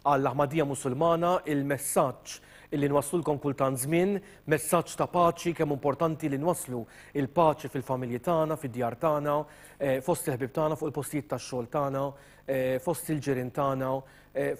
Għall-Aħmadija Musulmana, il-messaġġ li nwasslullkom kultant żmien, messaġġ ta' paċi, kemm importanti li nwasslu l-paċi fil-familji tagħna, fid-djar tagħna, fost il-ħbieb tagħna, fuq il-postijiet tax-xogħol tagħna, fost il-ġirien tagħna,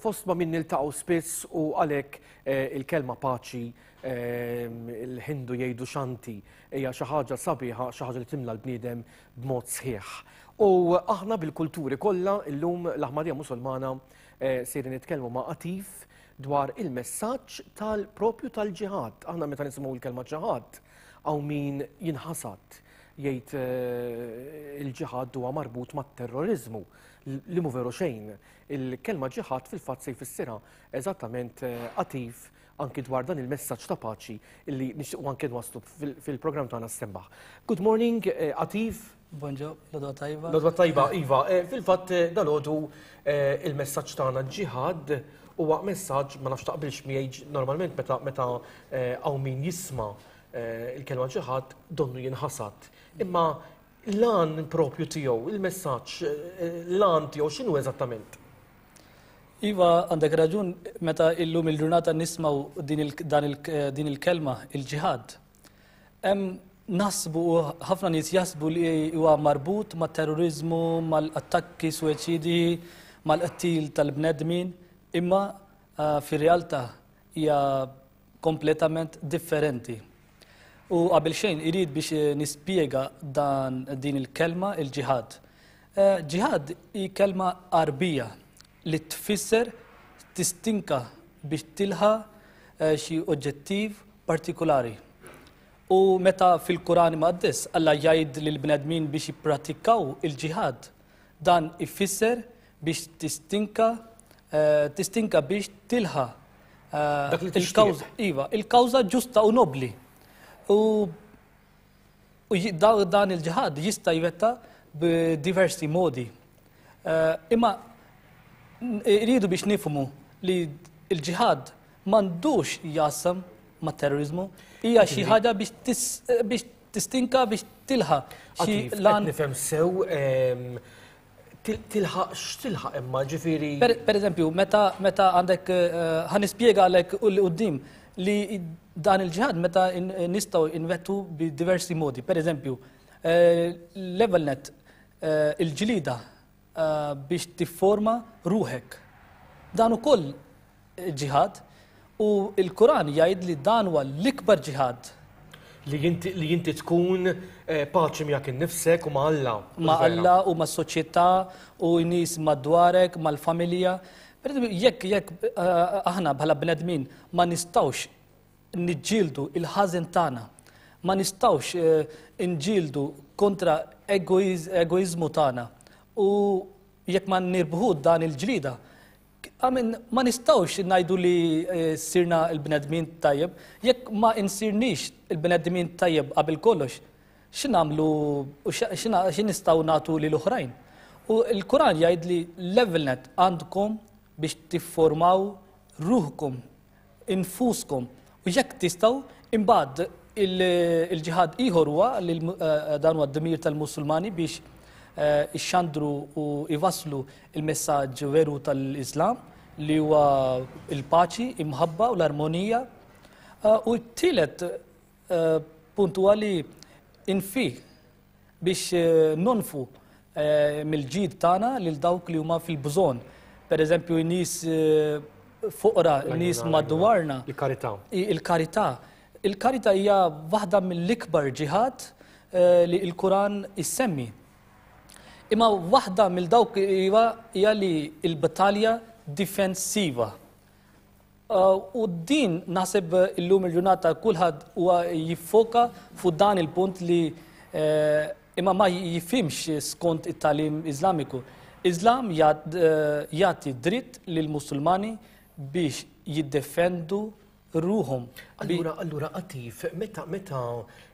fost ma' min niltaqgħu spiss u għalhekk il-kelma paċi, il-Ħindu jgħidu Shanti, hija xi ħaġa sabiħa, xi ħaġa li timla l-bniedem b'mod sħiħ. U aħna bil-kulturi kollha, illum l-Aħmadija Musulmana Sejrin nitkellmu ma' Atif dwar il-messaġġ tal-propju tal-ġihad. Aħna meta nisimgħu l-kelma ġihad hawn min jinħasad jgħid eh, il-ġihad huwa marbut mat-terrorizmu li mu veru xejn. Il-kelma ġihad fil-fatt se jfissirha eżattament eh, attiv anki dwar dan il-messaġġ ta' paċi li nixtiequ anke nwasslu fil-programm tagħna sembaħ. Good morning, eh, Atif. Bonġo, l-odwa tajba. L-odwa tajba, Iva. Eh, fil-fat, eh, dal-ħodu eh, il-messagġ tagħna ġiħad huwa messaġġ ma nafx taqbilx miegħi normalment meta meta hawn min jisma' il-kelma ġiħad donnu jinħasad. Imma l-an propju tiegħu, il-messaġġ, l-an tiegħu x'inhu eżattament? Iva, għandek raġun, meta illum il-ġurnata nismaw din il-kelma, il-ġihad, Nasbu, ħafna nies jasbu li huwa marbut ma' terrorizmu, mal-attakki suwiċidi, mal-qtil tal-bnedmin, imma eh, fir-realtà hija kompletament differenti. U qabel xejn irid biex eh, nispjega dan din il-kelma il-ġihad. Eh, ġihad hi kelma arbija li tfisser tistinka biex tilħaq eh, xi oġġettiv partikolari. U meta fil-Kuran Maqdis Alla jgħid lil bnedmin biex jippratikaw il-ġihad, dan ifisser biex tistinka eh, tistinka biex tilħa eh, il-kawża iva, il-kawża ġusta u nobli. U U dan il-ġihad jista' jwetta b'diversi modi. Eh, imma rridu biex nifmu li l-ġihad m'għandux jasam ma' terrorizmu, hija xi ħaġa biex tistinka biex tilħa. Xi lan nifhem sew ehm, tilħaq x'tilħaq imma ġifieri. Per eżempju, meta meta għandek eh, ħan nispjega għalek u li qudiem li dan il-ġihad meta nistgħu invettu bi diversi modi. Per eżempju, eh, level net eh, il-ġlida biex tifforma ruħek. Dan ukoll ġihad u l-Quran jgħid li dan huwa l-ikbar ġihad. Li inti tkun eh, paċi miegħek innifsek u ma' Alla. Ma' Alla u ma' soċjetà u nies madwarek, mal-familja. Jekk jekk eh, aħna bħala bnedmin ma nistawx niġġieldu il-ħażen tagħna, ma nistawx eh, nġildu kontra egoizmu tagħna u jekk ma nirbħu dan il-ġlida, Amen, ma nistawx najdu li eh, sirna il-bnedmin tajjeb, jekk ma insirnix il-bnedmin tajjeb qabel kollox, xinamlu u xin nistaw natu li l-oħrajn. U l-Kuran jgħid li level net għandkom biex tifformaw ruħkom infuskom. U jekk tistgħu, imbagħad il-ġihad ieħor huwa li eh, dan huwa d-dmir tal-Musulmani biex eh, ixxandru u jvasslu il-messaġġ veru tal-Islam li huwa il-paċi, imħabba u l-armonija. Eh, u t-tielet Eh, punt huwa li infi biex eh, nonfu eh, mill-ġid tagħna lil dawk li huma fil-bżonn. Per eżempju, nies fuqra, nies madwarna. Il-karità. Il-karità. Il-karità hija waħda mill-ikbar ġihad li l-Kuran issemmi. Imma waħda mill dawk hija li l-battalja difensiva. U din naħseb illum il-ġurnata kulħadd huwa jiffoka fuq dan il-punt li eh, imma ma jifimx skont it-talim Iżlamiku. Iżlam eh, jagħti dritt lil Musulmani biex jiddefendu ruhom. Allura, allura qatif, meta meta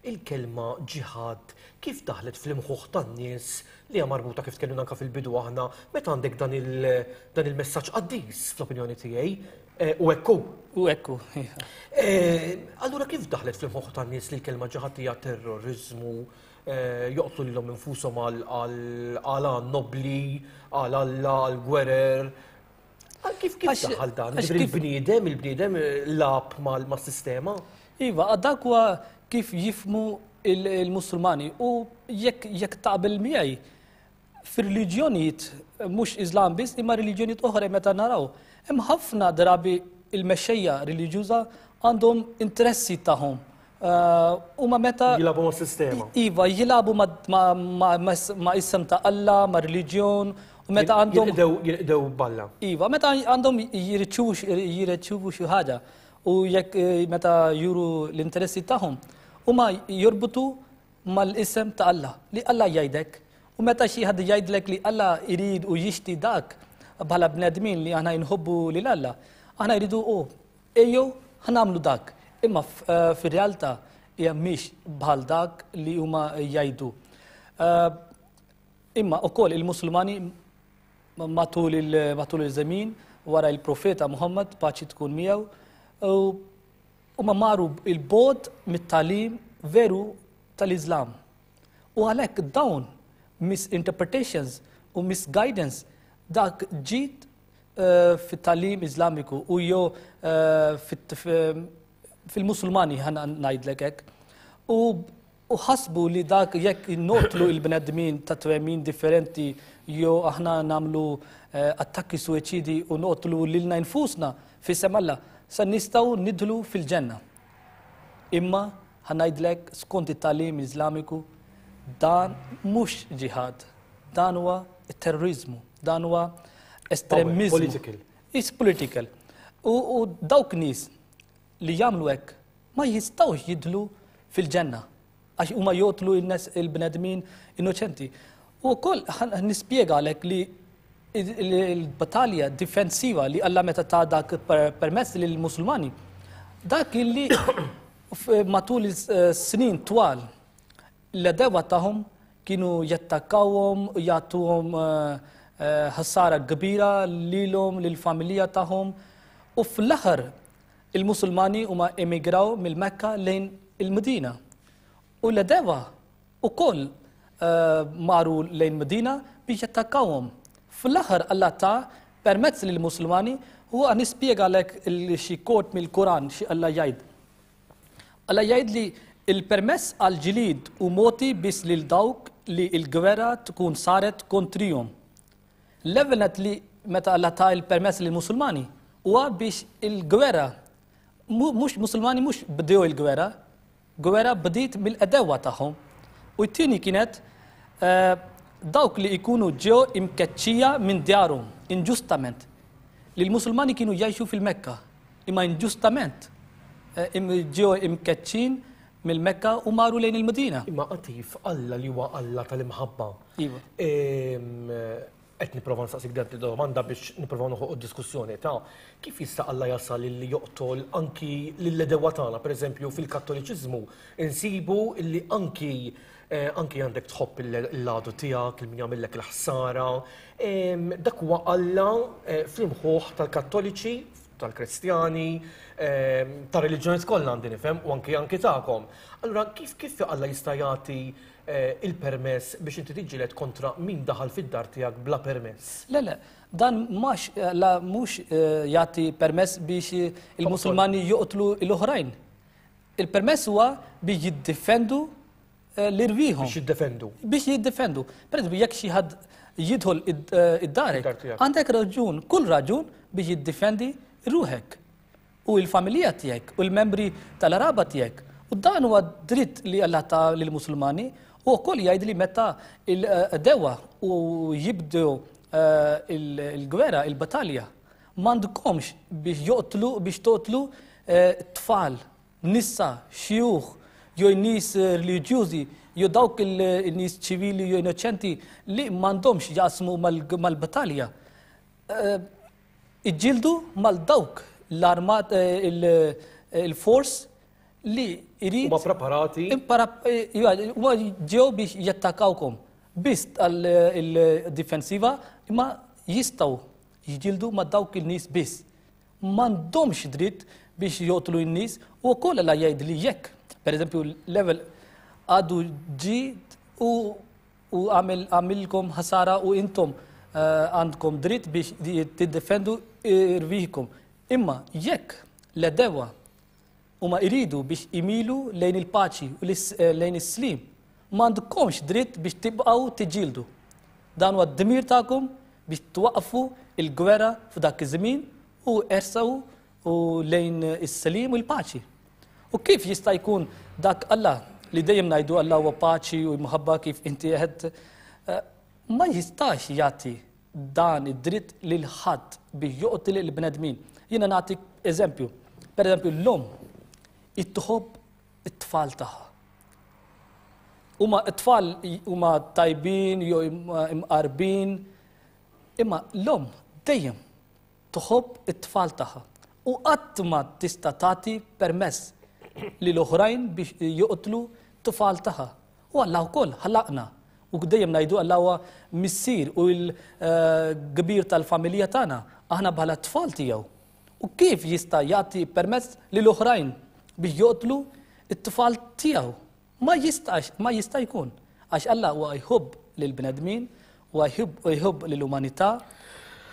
il-kelma ġihad kif daħlet fl-imħuħ tan-nies li hija marbuta kif tkellimna anke fil-bidu aħna, meta għandek dan il-messaġġ qaddis fl-opinjoni tiegħi, u hekk hu. U hekk hu. Allura kif daħlet fl-imħuħ tan-nies li l-kelma ġiħad hija terroriżmu, joqtlu lilhom infushom għal għan nobbli, għal Alla, għal gwerer, Kif kif daħal dan? Il-bniedem, il-bniedem lab mal-sistema? Iva, dak huwa kif jifmu il-Musulmani u jekk taqbel miegħi fir-reliġjonijiet mhux Islam biss imma reliġjonijiet oħra meta naraw. Hemm ħafna drabi il-mexxejja reliġjuża għandhom interessi tagħhom Huma meta. Jilagħbu mas-sistema. Iva, jilagħbu ma' isem ta' Alla, ma' reliġjon, u meta għandhom. Jilqdew balla. Iva, meta għandhom jirċivu xi ħaġa u jekk meta juru l-interessi tagħhom, huma jorbutu mal-isem ta' Alla, li Alla jgħidek. U meta xi ħadd jgħidlek li Alla jrid u jixti dak bħala bnedmin li aħna jinħobbu lil Alla, aħna jridu u Ejjew ħa nagħmlu dak, imma fir-realtà hija mhix bħal dak li huma jgħidu. Imma ukoll il-Musulmani matul il-żemien wara il-Profeta Muhammad paċi tkun miegħu u ma maru il-bod mit-talim veru tal-Islam. U għalhekk dawn misinterpretations u misguidance dak ġid fit-talim Iżlamiku u jew fil-Musulmani ħana ngħidlek hekk. U u ħasbu li dak jekk notlu il-bnedmin ta' twemmin differenti jew aħna namlu eh, attakki suicidi u notlu lilna nfusna fis-sem Alla, sa nistgħu nidħlu fil-ġenna. Imma, ħa ngħidlek, skont it-tagħlim Iżlamiku, dan mhux ġihad, dan huwa terroriżmu, dan huwa estremiżmu. Political. Is political. U dawk nies li jagħmlu hekk ma jistgħux jidħlu fil-ġenna. Għax huma jotlu il-bnedmin innoċenti. U wkoll nispjega għalhekk li l-battalja difensiva li Alla meta ta' dak permess lill musulmani dak illi matul is-snin twal l-edewa tagħhom kienu jattakkawhom, jagħtuhom eh, eh, ħsara kbira lilhom, lill-familja tagħhom. U fl-aħħar Il-Musulmani huma emigraw mill-Mekka lejn il-Medina. U l-Edewa ukoll eh, maru lejn Medina biex jattakkawhom. Fl-aħħar Allah ta' permezz lil Musulmani u għan nispjega lek xi kort mill-Kuran xi Allah jgħid. Allah jgħid li il-permess għal ġilid u moti biss lil dawk li l-gwerra tkun saret kontrihom. L-ewwel nett li meta Alla ta il-permess lil Musulmani huwa biex il-gwerra mhux Musulmani mhux bdew il-gwerra, gwerra bdiet mill-edewwa tagħhom. U t-tieni kienet eh, dawk li jkunu ġew imkeċċija minn djarhom inġustament li l-Musulmani kienu jgħixu fil-Mekka imma inġustament eh, ġew imkeċċin mill-Mekka u maru lejn il-Medina. Imma qatif Alla li huwa Alla tal-imħabba Iva. Qed nipprova nsaqsik dak li domanda biex nipprova noħoq diskussjoni ta' kif jista' Alla jasal li joqtol anki lill-edewa tagħna, pereżempju fil-Kattoliċiżmu insibu li anki eh, anki għandek tħobb il-ladu tiegħek, il-min jagħmillek il-ħsara. Dak huwa Alla eh, fl-imħuħ tal-Kattoliċi, tal-Kristjani, tal-reliġjoni kollha għandi nifhem u anki anki tagħkom. Allura kif kif Alla jista' jagħti il-permess biex inti tiġġieled kontra min daħal fid-dar tiegħek bla permess. Le, le, dan mhux mhux eh, jagħti permess biex il-Musulmani joqtlu l-oħrajn. Il-permess huwa biex jiddefendu eh, l-irwieħhom. Biex jiddefendu. Biex jiddefendu. Per jekk xi ħadd jidħol eh, id-darek, għandek raġun, kull raġun biex jiddefendi ruħek. u l-familija tiegħek u l-membri tal-qraba tiegħek. U dan huwa dritt li Alla ta lill-Musulmani u wkoll jgħid li meta l-għdewwa u jibdew eh, il-gwerra, il-battalja, m'għandkomx biex joqtlu biex toqtlu eh, tfal, nisa, xjuħ, jew nies eh, reliġjużi, jew dawk il-nies ċivili jew innoċenti li m'għandhomx jaqsmu mal-battalja. Iġġieldu mal dawk l-armat il-fors li jrid. Huma preparati. Huma ġew biex jattakawkom. Biss tal-difensiva imma jistgħu jġildu ma' dawk il-nies biss. M'għandhomx dritt biex jotlu n-nies u wkoll la jgħid li jekk, pereżempju, level għadu ġi u U għamilkom ħasara u intom għandkom dritt biex tiddefendu irviħkom. Imma jekk l-edewa huma iridu biex imilu lejn il-paċi u eh, lejn is-slim, m'għandkomx dritt biex tibqgħu tiġildu. Dan huwa d-dmir tagħkom biex twaqqfu il-gwerra f'dak iż-żmien u ersaw u lejn is-selim u l-paċi. U kif jista' jkun dak Alla li dejjem ngħidu Alla huwa paċi u mħabba kif inti qed eh, ma jistax jagħti dan id-dritt lil ħadd biex joqtil il-bnedmin. Jiena nagħtik eżempju. Per eżempju, l-lum it-tħobb it-tfal tagħha. Huma t-tfal huma tajbin jew imqarbin, imma l-lum dejjem tħobb it-tfal tagħha u qatt ma tista' tagħti permess lil oħrajn biex joqtlu tfal tagħha. U Alla wkoll ħalaqna. U dejjem ngħidu Alla huwa missier u l-kbir eh, tal-familja tagħna, aħna bħala t-tfal tiegħu. U kif jista' jagħti permess lil oħrajn biex joqtlu it-tfal tiegħu? Ma jistax, ma jista' jkun. Għax Alla huwa jħobb lill-bnedmin, huwa jħobb lill-umanità,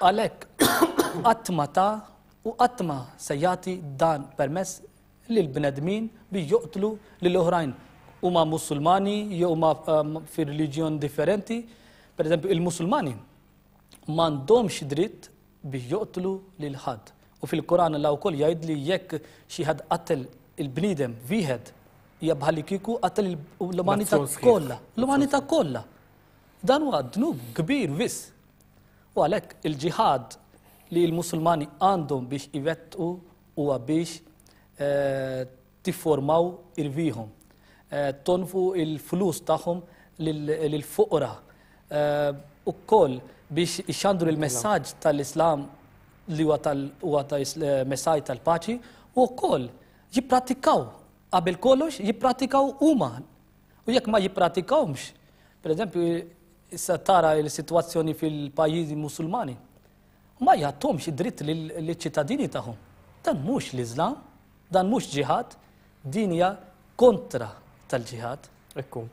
għalhekk qatt ma ta u qatt ma se jagħti dan permess lill-bnedmin biex joqtlu lil oħrajn huma Musulmani jew huma fi reliġjon differenti. Pereżempju, il-Musulmani m'għandhomx dritt biex joqtlu lil ħadd. U fil-Quran Alla wkoll jgħid li jekk xi ħadd qattel il-bniedem wieħed hija bħalli kieku qattel l-umanità kollha, l-umanità kollha. Dan huwa dnub kbir biss. U għalhekk il-ġihad li l-Musulmani għandhom biex iwettqu huwa biex eh, tifformaw irbihom, tonfqu l-flus tagħhom lill-foqra wkoll biex ixandru l-messaġġ tal-Islam li huwa messaġġ tal-paċi u wkoll jipprattikaw qabel kollox jipprattikaw huma. U jekk ma jippratikawhomx, pereżempju issa tara l-sitwazzjoni fil-pajjiżi Musulmani. Ma jgħattihomx id-dritt liċ-ċittadini tagħhom. Dan mhux l-Iżlam, dan mhux ġihad, din hija kontra tal-ġihad. Ekku.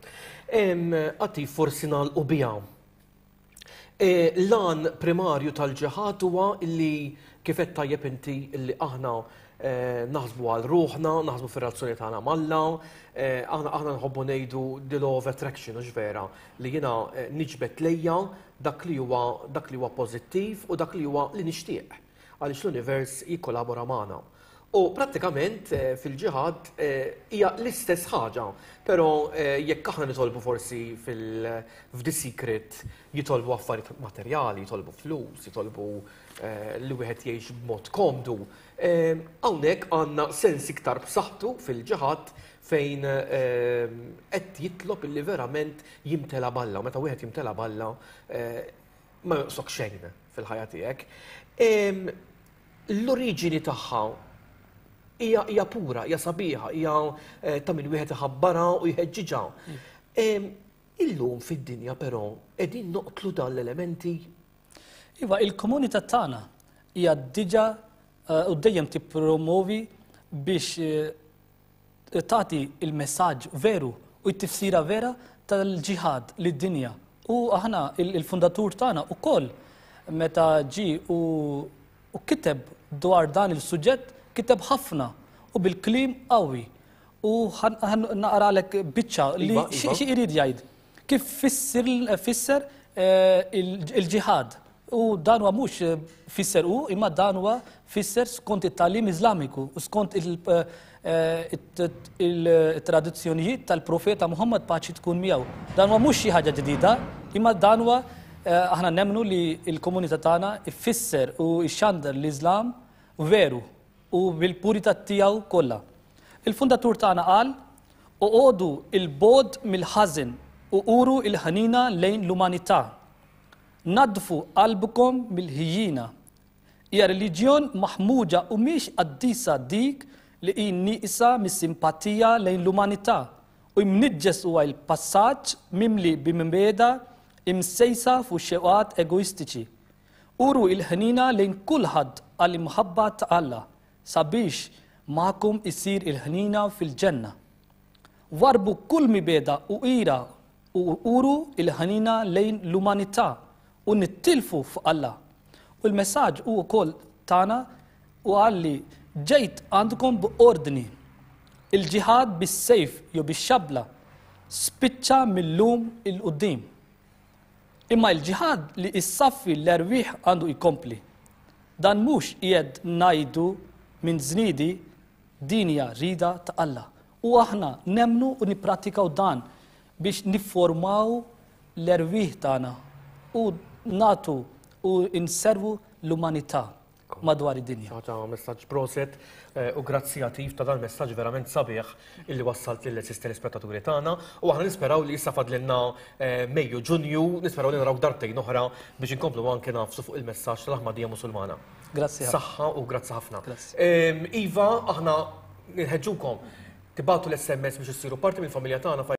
Għati forsi nagħlqu biha. E, lan primarju tal-ġihad huwa li kif qed tajjeb inti li aħna e, naħsbu għal ruħna, naħsbu fir-razzjoni tagħna malla, e, aħna aħna nħobbu ngħidu the law of attraction, vera. li jiena niġbed lejja dak li huwa dak li huwa pożittiv u dak li huwa li nixtieq għaliex l-univers jikkolabora magħna. U prattikament fil-ġihad hija l-istess ħaġa, però jekk aħna nitolbu forsi f'The Secret jitolbu affarijiet materjali, jitolbu flus, jitolbu li wieħed jgħix b'mod komdu, hawnhekk għandna sens iktar b'saħħtu fil-ġihad fejn qed jitlob illi verament jimtela' b'Alla, u meta wieħed jimtela' b'Alla ma jonqsok xejn fil-ħajja tiegħek. L-oriġini tagħha hija pura, hija sabiħa, hija eh, ta' min wieħed iħabbarha u jħeġġiġha. Illum fid-dinja però qegħdin noqtlu dan l-elementi. Iva, il-komunità tagħna hija diġà eh, u dejjem tippromovi biex eh, tagħti il-messaġġ veru u t-tifsira vera tal-ġihad lid-dinja. U aħna il-fundatur tagħna ukoll meta ġi u, u kiteb dwar dan il-suġġett kiteb ħafna u bil-klim qawwi. U naqralek biċċa li iva, iva. xi jrid jgħid. Kif fisser il-ġihad? U dan huwa mhux fisser u imma dan huwa fisser skont it-tagħlim Iżlamiku u skont il-tradizzjonijiet tal-Profeta Muhammad paċi tkun miegħu. Dan huwa mhux xi ħaġa ġdida, imma dan huwa aħna nemmnu li l-komunità tagħna ffisser u xxandar l-Iżlam veru u bil-purità tiegħu kollha. Il-fundatur tagħna qal Oqogħdu 'l bogħod mill-ħażen u uru l-ħniena lejn l-umanità. Naddfu qalbkom mill-ħjiena. Hija reliġjon maħmuġa u mhix qaddisa dik li hi nieqsa mis-simpatija lejn l-umanità u mniġġes huwa l-passaġġ mimli bi mibgħeda msejsa fuq xewqat egoistiċi. Uru l-ħniena lejn kulħadd għall-imħabba ta' Alla. Sabiex magħkom issir il-ħniena fil-Ġenna. Warrbu kull mibegħda u ira u uru l-ħniena lejn l-umanità u nittilfu f'Alla. U l-messaġġ hu wkoll tagħna u qal li ġejt għandkom b'ordni. Il-ġiħad bis-sejf jew bix-xabbla spiċċa mil-lum 'il quddiem. Imma l-ġihad li jsaffi l-erwieħ għandu jkompli. Dan mhux qiegħed ngħidu minn żniedi din hija rida ta' Alla. U aħna nemmnu u nipprattikaw dan biex nifformaw l-erwieħ tagħna u nagħtu u nservu l-umanità. madwar id-dinja. Ħaġa messaġġ proset eh, u grazzi għatif ta' dan messaġġ verament sabiħ illi wassalt lil eżist telespettaturi tagħna u aħna nisperaw li issa fadlilna eh, Mejju Ġunju, nisperaw li naraw darbtejn oħra biex inkomplu anke nafsu fuq il-messaġġ tal-Aħmadija Musulmana. Grazzi ħafna. Saħħa u grazzi ħafna. Ehm, iva, aħna nħeġġukom tibatu l-SMS biex issiru parti mill-familja tagħna